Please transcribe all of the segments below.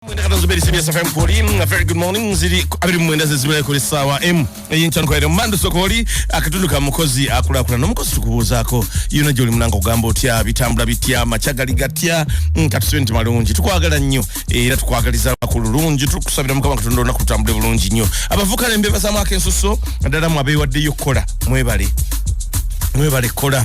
mwenda kata zuberi cbs fm koli a very good morning ziri abiri mwenda zezibira kuli sawa m eyinkyan kwaire mandu sokoli akatundu ka mukozi akulakula nomukozi tukubuuzako yona gyoli munanga ogamba otya bitambula bitya machagali gatya mm, katusibe nti malungi tukwagala nnyo era tukwagaliza ku lulungi tukusabira mukama katonda olunaku lutambule bulungi nnyo abavuka nembebazamwako ensuso ddala mwabeewaddeyo okukola mwebale mwebale kola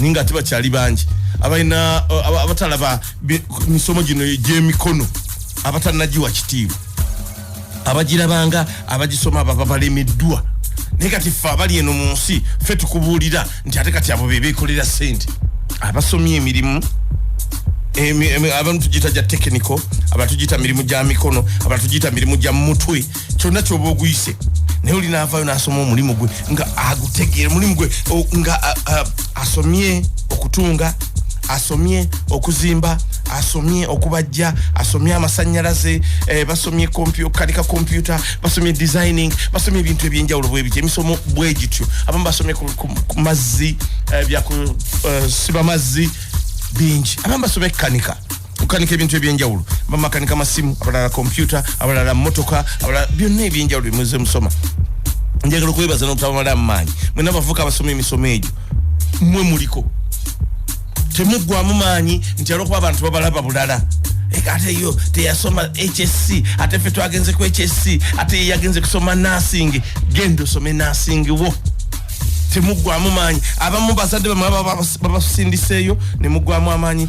ninga ate bakyali bangi abalina uh, abatalaba misomo gino egyemikono abatanagiwa kitiibwa abagirabanga abagisoma baba balemeddwa naye kati ffe abali eno mu nsi ffe tukubuulira nti ate kati abo bebekolera sente abasomye emirimu abantu tugiyita gya tekiniko abantu tugiyita mirimu gya mikono abantu tugiyita mirimu gya mutwe kyonna kyoba oguyise naye oli naavayo nasoma omulimu gwe nga agutegeera omulimu gwe nga asomye okutunga asomye okuzimba asomye okubajja asomye amasanyalaze eh, basomye kanika kompyuta basomye designing basomye ebintu ebyenjawulo bwebiti emisomo bwegityo abamu basomye ku mazzi eh, byakusiba eh, mazzi bingi abamu basomye kukanika tukanika ebintu ebyenjawulo bamakanika masimu abalala kompyuta abalala motoka abalala byonna ebyenjawulo byemuze musoma njagala okwebaza nokutabamala amaanyi mwena bavuka abasoma emisomo egyo mwe muliko temuggwamu maanyi nti alwokuba abantu babalaba bulala ate yo teyasoma hsc ate fe twagenze ku hsc ate yeyagenze kusoma nasingi genda osome nasingi wo temuggwamu maanyi abamu bazadde bamwe babasindiseeyo nemugwamu amaanyi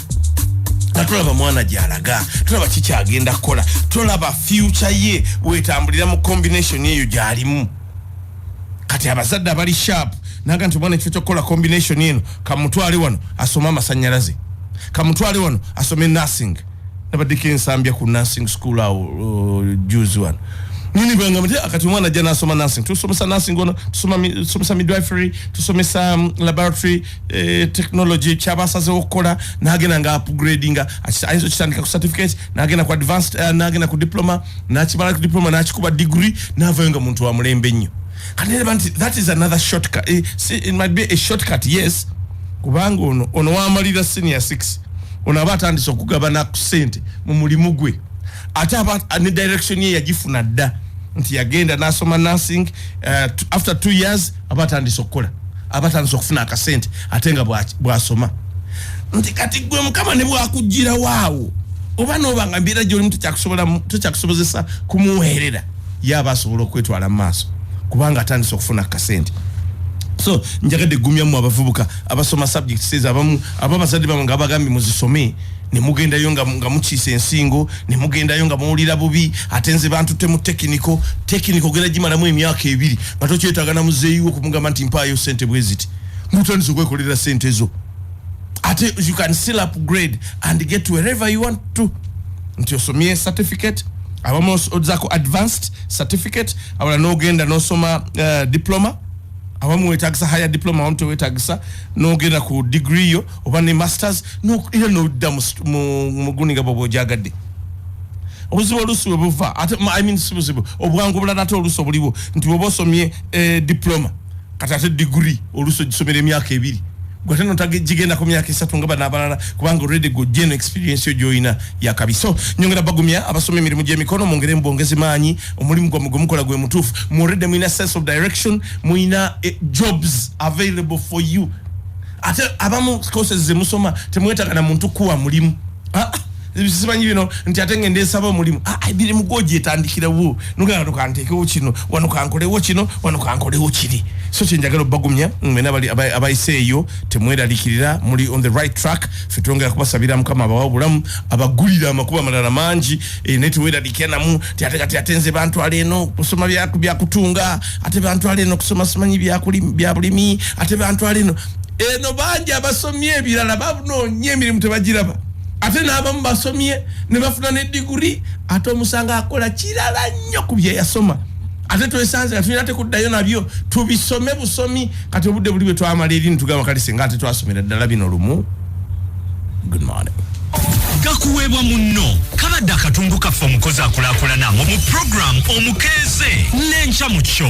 nga tulaba mwana gyalaga tulaba kikyagenda kukola tulaba fyuca ye wetambulira mu kombination eyo gyalimu kati abazadde abali sharp naga nti omwana ekifo kyokukola kombination eno kamutwale wano asome amasanyalaze kamutwale wano asome nursing nabaddeko ensambya ku nursing school awo uh, juzi wano nini bwengamba ti akati omwana ajja nasoma nursing tusomesa nursing ono tusomesa midwifery tusomesa um, laboratory eh, technology kyaba asazewo okukola nagenda nga upgrading ayinza okitandika ku certificate nagenda ku advanced uh, nagenda ku diploma nakimala ku diploma nakikuba degree navayo nga muntu wamulembe nnyo kaneba nti that is another shortcut eh, see, it might be a shortcut yes kubanga ono ono wamalira senior 6 ono aba atandise okugabana ku sente mu mulimu gwe ate aba ne direction ye yagifuna dda nti yagenda nasoma nursing uh, after two years aba atandise okukola aba atandise okufuna akasente ate nga bwasoma nti kati gwe mukama ne bwakugirawo awo oba noba nga mbeera gyolimu tekyakusobozesa kumuweerera ye aba asobola okwetwala mu maaso kubanga atandise okufuna akasente so njagadde gumyamu abavubuka abasoma subjects ezo abamu aba abazadde bamwe nga abagambye muzisome nemugendayo nga mukiisa ensingo nemugendayo nga muwulira bubi ate nze bantutte mu tekiniko tekiniko ogenda gimalamu emyaka ebiri atokyetaga na muzeyi wo kumugamba nti mpayo sente bweziti mutandise okwekolera sente zo ate you can still upgrade and get wherever you want to nti osomye certificate abamu ozako advanced certificate abala nogenda nosoma uh, diploma abamu wetagisa higher diploma abamu tewetagisa nogenda ku degree yo oba ne masters era nodda muguni nga bwoba ojagadde obuzibu oluusi webuva ate i mean si buzibu obwangu obulala ate oluusi obuliwo nti bwoba osomye eh, diploma kati ate diguri oluusi ogisomera emyaka ebiri gwate notagigenda ku myaka esatu nga bano abalala kubanga olredi gojja eno experience yo gyolina yakabi so nyongera bagumya abasoma emirimu gyemikono mungere mubwongezi maanyi omulimu gwamwe gwemukola gwe mutuufu muolredi mulina sense of direction mulina eh, jobs available for you ate abamu courses zemusoma temwetagana muntu kuwa mulimu ah, ah. simanyi bino nti ate ngende nsaba omulimu ah, ah, emirimu gwogyetandikirawo nogenda wano kanteekewo kino wano kankolewo kino wano kankolewo kiri so kyenjagala obagumya mwena abayise eyo temweralikirira muli on the right track fe twongera kubasabira mukama abawa obulamu abagulira amakuba amalala mangi eh, naye teweralikira namu ti ate kati ate nze bantwala eno kusoma byakutunga ate bantwala eno kusoma simanyi byabulimi ate bantwala eno eno bangi abasomye ebirala babunonye emirimu tebagiraba ate n'abamu basomye ne bafuna ne diguri ate omusanga akola kirala nnyo ku bye yasoma ate twesanze nga tulina tekuddayo nabyo tubisome busomi kati obudde buli bwe twamala eri nitugamba kale singa ate twasomera ddala bino lumu good morning gakuweebwa munno kabadde akatundu kaffe omukozi akulakulana mu puroguramu omukeeze n'enkya mu kyo